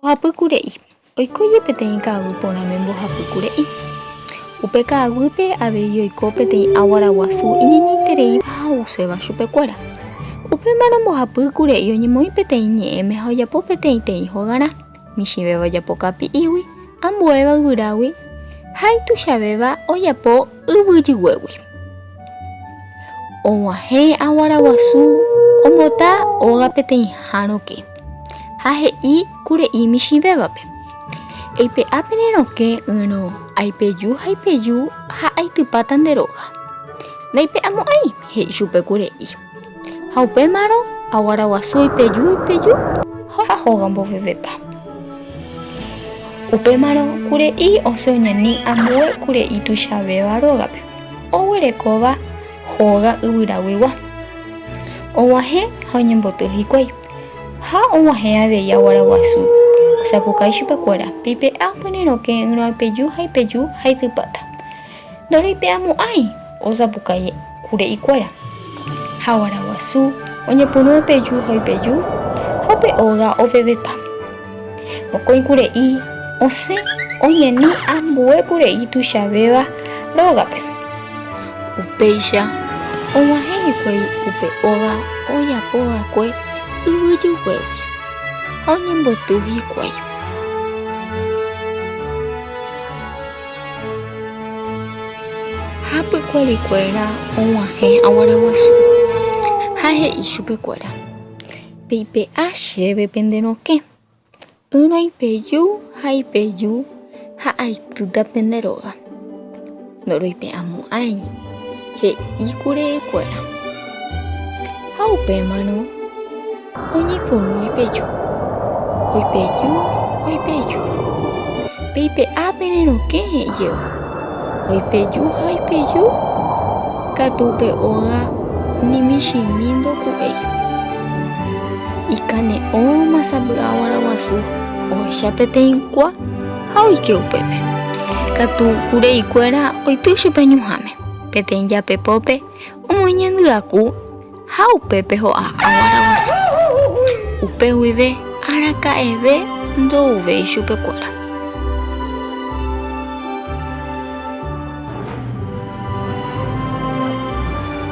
Mbohapy kure'i. Oiko jepe peteĩ ka'aguy porãme mbohapy kure'i. Upe ka'aguýpe avei oiko peteĩ aguara guasu iñeñeitereíva ha ouséva chupekuéra. Upémarõ mbohapy kure'i oñemoĩ peteĩ ñe'ẽme ha ojapo peteĩteĩ hogarã, michĩvéva ojapo kapi'ígui, ambuéva yvyrágui ha ituichavéva ojapo Yvyjyguégui. Og̃uahẽ aguara guasu ombota óga peteĩha rokẽ, ha he'i kure'i michĩvévape, Eipe'a pene rokẽ ỹrõ, aipeju ha ipeju ha aitypáta nde róga. Ndaipe'amo'ãi, he'i chupe kure'i. Ha upémarõ aguara guasu oipeju oipeju ha hóga mbovevépa. Upémarõ kure'i osẽ oñani ambue kure'i tuichavéva rógape, oguerekóva hóga yvyraguigua. Og̃uahẽ ha oñemboty hikuái. Ha og̃uahẽ avei aguara guasu, osapukái chupekuéra, Pipe'a, pyryrõke ỹrõ ipeju ha ipeju ha itypáta. Ndoreipe'amo'ãi osapukái kure ikuéra, ha guara guasu oñepyrũ opeju ha oipeju, ha upe óga ovevepa. Mokõi kure'i osẽ oñani ambue kure'i tuichavéva rógape. Upéicha og̃uahẽ hikuái upe óga ojapo va'ekue yvyjyguégui, ha oñemboty hikuái. Ha pykuari kuéra oguahẽ aguara guasu, ha he'i chupe kuéra, Peipe'a chéve pende rokẽ, ỹrõ ipeju ha ipeju ha aitýta pende róga. Ndoroipe'amo'ãi, he'i kure kuéra. Ha upémarõ. Oñepyrũ oipeju, oipeju, oipeju. Pe ipe'a pene rokẽ he'ijeýva. Oipeju ha oipeju, katu upe óga ni michĩmi ndoku'éiva. Ikane'õ masa mby'a guarã guasu ohecha peteĩ kua ha oike upépe. Katu kurei kuéra oity chupe ñuhãme. Peteĩ japepópe omoĩ ñandy aku. Ha upépe ho'a aguára guasu. Upe guive araka'eve ndo'uvéi chupekuéra.